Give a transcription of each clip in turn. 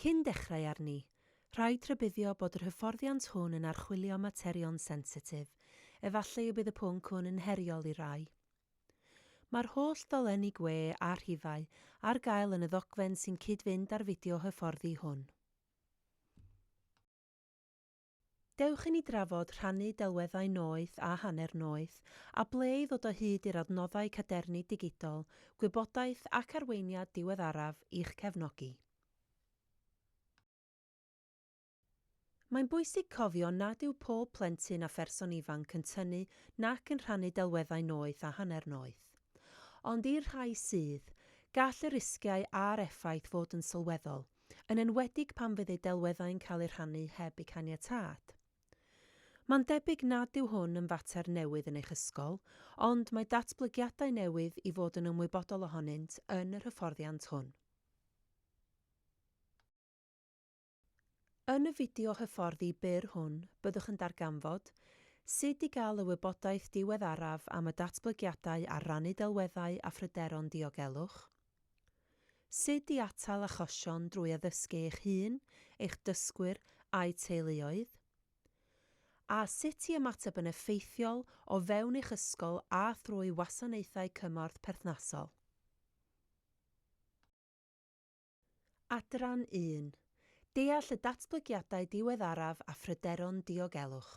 Cyn dechrau arni, rhaid rhybuddio bod yr hyfforddiant hwn yn archwilio materion sensitif, efallai y bydd y pwnc hwn yn heriol i rai. Mae'r holl ddolenni gwe a rhifau ar gael yn y ddogfen sy'n cyd-fynd â'r fideo hyfforddi hwn. Dewch i ni drafod, rhannu delweddau noeth a hanner noeth, a ble i ddod o hyd i'r adnoddau cadernid digidol, gwybodaeth ac arweiniad diweddaraf i'ch cefnogi. Mae'n bwysig cofio nad yw pob plentyn a pherson ifanc yn tynnu nac yn rhannu delweddau noeth a hanner noeth. Ond i'r rhai sydd, gall y risgiau a'r effaith fod yn sylweddol, yn enwedig pan fydd eu delweddau'n cael eu rhannu heb eu caniatâd. Mae'n debyg nad yw hwn yn fater newydd yn eich ysgol, ond mae datblygiadau newydd i fod yn ymwybodol ohonynt yn yr hyfforddiant hwn. Yn y fideo hyfforddi byr hwn, byddwch yn darganfod sut i gael y wybodaeth diweddaraf am y datblygiadau ar rannu delweddau a phryderon diogelwch, Sut i atal achosion drwy addysgu eich hun, eich dysgwyr a'u teuluoedd, a sut i ymateb yn effeithiol o fewn eich ysgol a thrwy wasanaethau cymorth perthnasol. Adran 1. Deall y datblygiadau diweddaraf a phryderon diogelwch.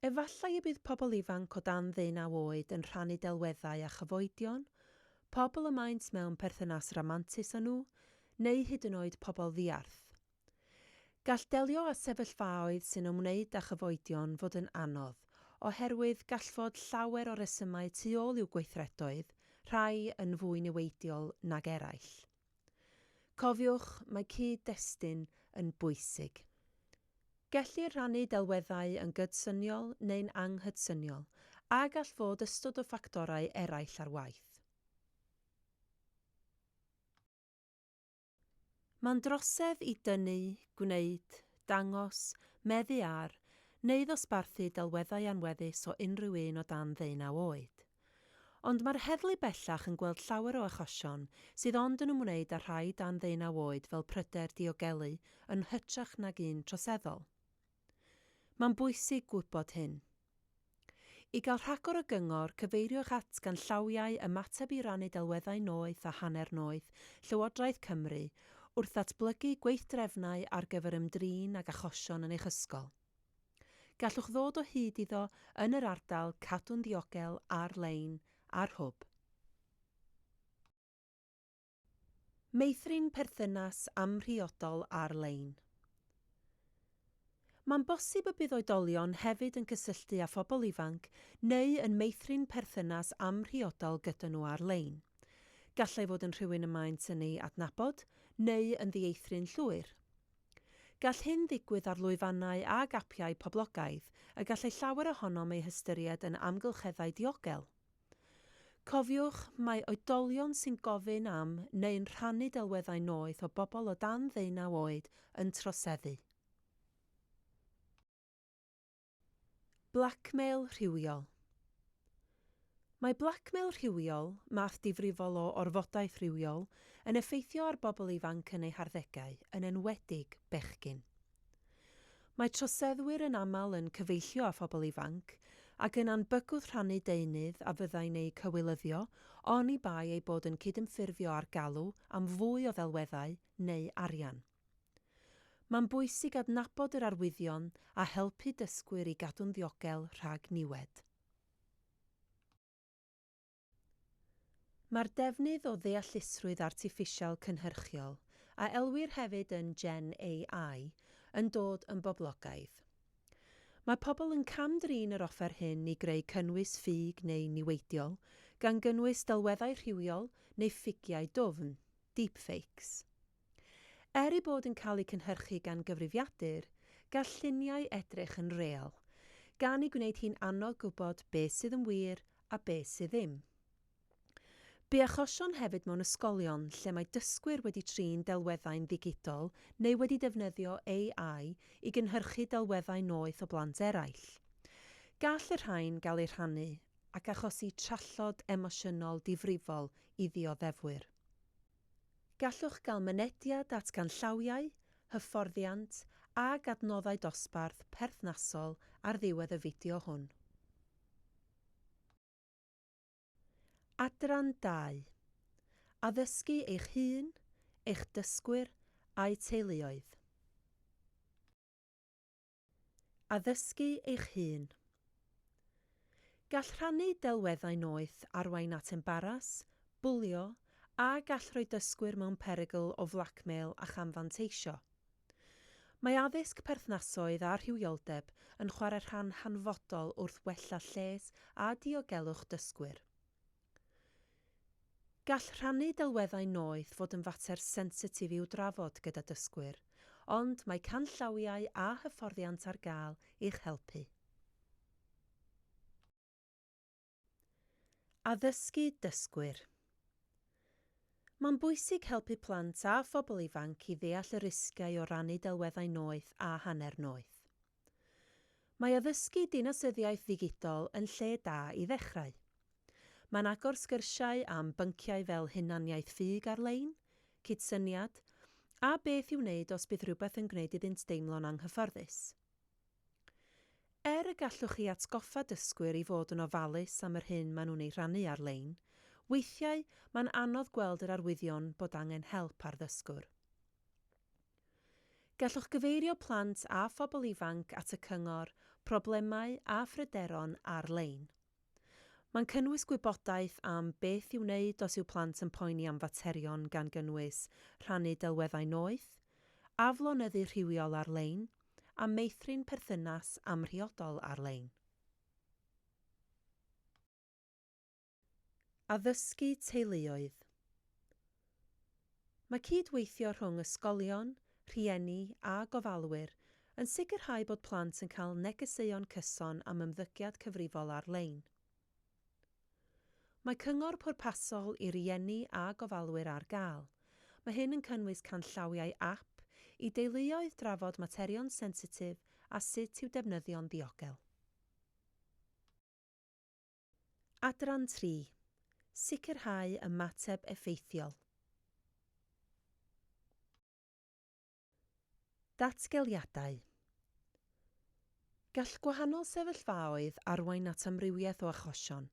Efallai y bydd pobl ifanc o dan ddeunaw oed yn rhannu delweddau â chyfoedion, pobl y maent mewn perthynas ramantus â nhw, neu hyd yn oed pobl ddiarth. Gall delio â sefyllfaoedd sy'n ymwneud â chyfoedion fod yn anodd, oherwydd gall fod llawer o resymau tu ôl i'w gweithredoedd, rhai yn fwy niweidiol nag eraill. Cofiwch, mae cyd-destun yn bwysig. Gellir rhannu delweddau yn gydsyniol neu'n anghydsyniol, a gall fod ystod o ffactorau eraill ar waith. Mae'n drosedd i dynnu, gwneud, dangos, meddu ar, neu ddosbarthu delweddau anweddus o unrhyw un o dan ddeunaw oed. Ond mae'r heddlu bellach yn gweld llawer o achosion sydd ond yn ymwneud â rhai dan ddeunaw oed fel pryder diogelu yn hytrach nag un troseddol. Mae'n bwysig gwybod hyn. I gael rhagor o gyngor, cyfeiriwch at ganllawiau ymateb i rannu delweddau noeth a hanner noeth Llywodraeth Cymru wrth ddatblygu gweithdrefnau ar gyfer ymdrin ag achosion yn eich ysgol. Gallwch ddod o hyd iddo yn yr ardal Cadw'n Ddiogel ar-lein ar Hwb. Meithrin perthynas amhriodol ar-lein Mae'n bosib y bydd oedolion hefyd yn cysylltu â phobl ifanc neu yn meithrin perthynas amhriodol gyda nhw ar-lein. Gallai fod yn rhywun y maent yn ei adnabod neu yn ddieithryn llwyr. Gall hyn ddigwydd ar lwyfannau ag apiau poblogaidd y gallai llawer ohonom eu hystyried yn amgylcheddau diogel. Cofiwch, mae oedolion sy'n gofyn am neu'n rhannu delweddau noeth o bobl o dan ddeunaw oed yn troseddu. Blackmail rhywiol Mae blackmail rhywiol, math difrifol o orfodaeth rywiol, yn effeithio ar bobl ifanc yn eu harddegau, yn enwedig bechgyn. Mae troseddwyr yn aml yn cyfeillio â phobl ifanc, ac yna'n bygwth rhannu deunydd a fyddai'n eu cywilyddio, oni bai eu bod yn cydymffurfio â'r galw am fwy o ddelweddau neu arian. Mae'n bwysig adnabod yr arwyddion a helpu dysgwyr i gadw'n ddiogel rhag niwed. Mae'r defnydd o ddeallusrwydd artiffisial cynhyrchiol, a elwir hefyd yn Gen AI, yn dod yn boblogaidd. Mae pobl yn cam-drin yr offer hyn i greu cynnwys ffug neu niweidiol, gan gynnwys delweddau rhywiol neu ffigiau dwfn, deepfakes. Er eu bod yn cael eu cynhyrchu gan gyfrifiadur, gall lluniau edrych yn real, gan ei gwneud hi'n anodd gwybod beth sydd yn wir a beth sydd ddim. Bu achosion hefyd mewn ysgolion lle mae dysgwyr wedi trin delweddau'n ddigidol neu wedi defnyddio AI i gynhyrchu delweddau noeth o blant eraill. Gall y rhain gael eu rhannu ac achosi trallod emosiynol difrifol i ddioddefwyr. Gallwch gael mynediad at ganllawiau, hyfforddiant ac adnoddau dosbarth perthnasol ar ddiwedd y fideo hwn. Adran dau, Addysgu eich hun, eich dysgwyr a'u teuluoedd. Addysgu eich hun. Gall rhannu delweddau noeth arwain at embaras, bwlio, a gall rhoi dysgwyr mewn perygl o flacmêl a chamfanteisio. Mae addysg perthnasoedd a rhywioldeb yn chwarae rhan hanfodol wrth wella lles a diogelwch dysgwyr. Gall rhannu delweddau noeth fod yn fater sensitif i'w drafod gyda dysgwyr, ond mae canllawiau a hyfforddiant ar gael i'ch helpu. Addysgu dysgwyr Mae'n bwysig helpu plant a phobl ifanc i ddeall y risgiau o rannu delweddau noeth a hanner noeth. Mae addysgu dinasyddiaeth ddigidol yn lle da i ddechrau. Mae'n agor sgyrsiau am bynciau fel hunaniaeth ffug ar-lein, cydsyniad, a beth i'w wneud os bydd rhywbeth yn gwneud iddynt deimlo'n anghyfforddus. Er y gallwch chi atgoffa dysgwyr i fod yn ofalus am yr hyn maen nhw'n ei rhannu ar-lein, weithiau mae'n anodd gweld yr arwyddion bod angen help ar ddysgwr. Gallwch gyfeirio plant a phobl ifanc at y cyngor, problemau a phryderon ar-lein. Mae'n cynnwys gwybodaeth am beth i'w wneud os yw plant yn poeni am faterion gan gynnwys rhannu delweddau noeth, aflonyddu rhywiol ar-lein, a meithrin perthynas amhriodol ar-lein. Addysgu Teuluoedd Mae cyd-weithio rhwng ysgolion, rhieni a gofalwyr yn sicrhau bod plant yn cael negeseuon cyson am ymddygiad cyfrifol ar-lein. Mae cyngor pwrpasol i rieni a gofalwyr ar gael. Mae hyn yn cynnwys canllawiau ap i deuluoedd drafod materion sensitif a sut i'w defnyddio'n ddiogel. Adran tri, Sicrhau ymateb effeithiol. Datgeliadau Gall gwahanol sefyllfaoedd arwain at amrywiaeth o achosion,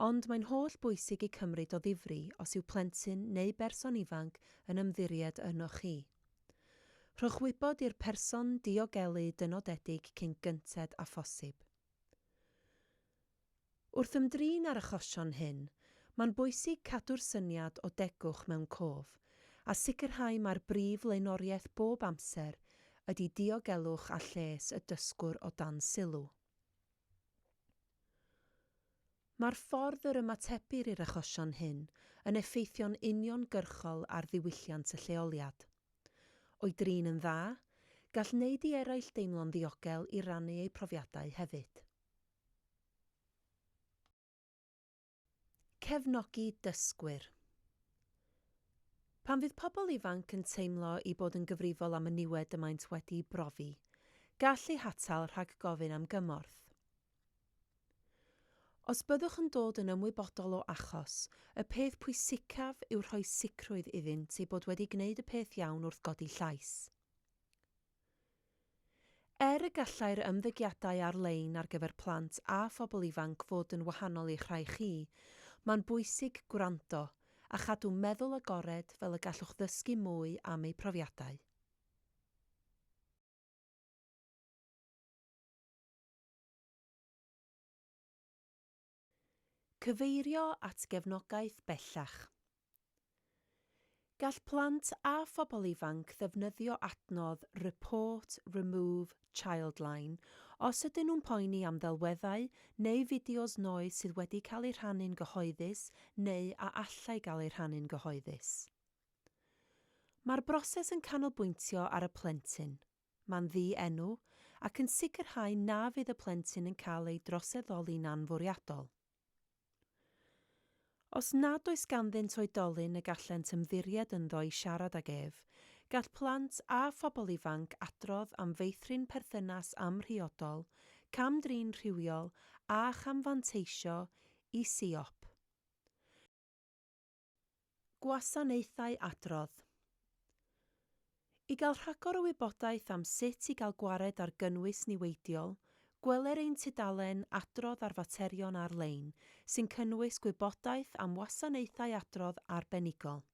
ond mae'n holl bwysig eu cymryd o ddifri os yw plentyn neu berson ifanc yn ymddiried ynoch chi. Rhowch wybod i'r person diogelu dynodedig cyn gynted â phosib. Wrth ymdrin â'r achosion hyn, mae'n bwysig cadw'r syniad o degwch mewn cof, a sicrhau mai'r brif flaenoriaeth bob amser ydy diogelwch a lles y dysgwr o dan sylw. Mae'r ffordd yr ymatebir i'r achosion hyn yn effeithio'n uniongyrchol ar ddiwylliant y lleoliad. O'i drin yn dda, gall wneud i eraill deimlo'n ddiogel i rannu eu profiadau hefyd. Cefnogi dysgwyr Pan fydd pobl ifanc yn teimlo eu bod yn gyfrifol am y niwed y maent wedi'i brofi, gall eu hatal rhag gofyn am gymorth. Os byddwch yn dod yn ymwybodol o achos, y peth pwysicaf yw rhoi sicrwydd iddynt eu bod wedi gwneud y peth iawn wrth godi llais. Er y gallai'r ymddygiadau ar-lein ar gyfer plant a phobl ifanc fod yn wahanol i'ch rhai chi, mae'n bwysig gwrando a chadw meddwl agored fel y gallwch ddysgu mwy am eu profiadau. Cyfeirio at gefnogaeth bellach Gall plant a phobl ifanc ddefnyddio adnodd Report Remove Childline os ydyn nhw'n poeni am ddelweddau neu fideos noeth sydd wedi cael eu rhannu'n gyhoeddus neu a allai gael eu rhannu'n gyhoeddus. Mae'r broses yn canolbwyntio ar y plentyn. Mae'n ddi-enw, ac yn sicrhau na fydd y plentyn yn cael ei droseddoli'n anfwriadol. Os nad oes ganddynt oedolyn y gallent ymddiried ynddo i siarad ag ef, gall plant a phobl ifanc adrodd am feithrin perthynas amhriodol, cam-drin rhywiol a chamfanteisio i siop. Gwasanaethau Adrodd I gael rhagor o wybodaeth am sut i gael gwared ar gynnwys niweidiol, gweler ein tudalen Adrodd ar Faterion Ar-lein sy'n cynnwys gwybodaeth am wasanaethau adrodd arbenigol.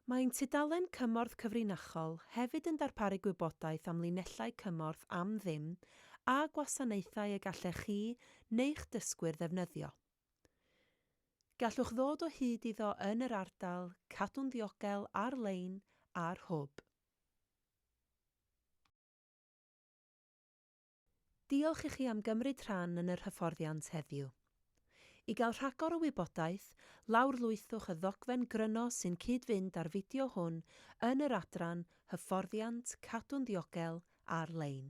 Mae ein tudalen Cymorth Cyfrinachol hefyd yn darparu gwybodaeth am linellau cymorth am ddim a gwasanaethau y gallech chi neu'ch dysgwyr ddefnyddio. Gallwch ddod o hyd iddo yn yr ardal Cadw'n Ddiogel ar-lein a'r Hwb. Diolch i chi am gymryd rhan yn yr hyfforddiant heddiw. I gael rhagor o wybodaeth, lawrlwythwch y ddogfen gryno sy'n cyd-fynd â'r fideo hwn yn yr adran Hyfforddiant Cadw'n Ddiogel ar-lein.